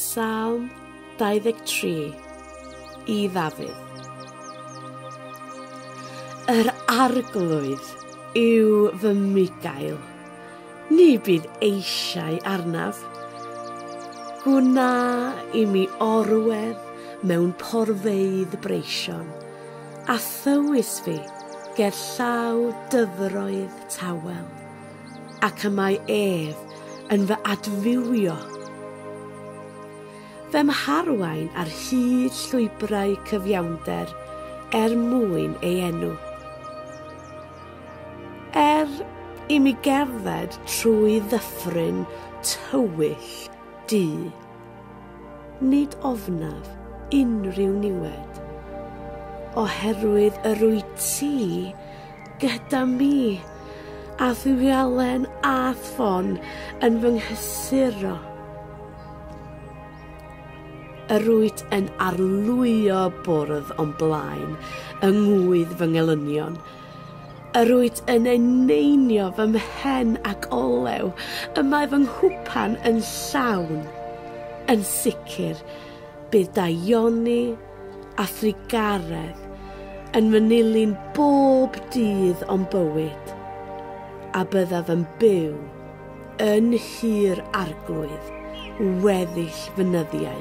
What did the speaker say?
Salm 23 i Ddafydd. Yr arglwydd yw fy migael, ni bydd eisiau arnaf. Gwna i mi orwedd mewn porfeydd breision, a thywys fi ger llaw dyfroedd tawel. Ac y mae ef yn fy adfywio. Fy mharwain ar hyd llwybrau cyfiawnder er mwyn ei enw. Er i mi gerdded trwy ddyffryn tywyll du. Nid ofnaf unrhyw niwed. Oherwydd yr wyt ti gyda mi, a thualen a ffon yn fy nghysuro. Yr wyt yn arlwyo bwrdd o'n blaen yng ngŵydd fy ngelynion, Yr wyt yn eneinio fy mhen ac olew y mae fy nghwpan yn llawn. Yn sicr, bydd daioni a thrugaredd yn fy nilyn bob dydd o'm bywyd, a byddaf yn byw yn hir arglwydd weddill fy nyddiau.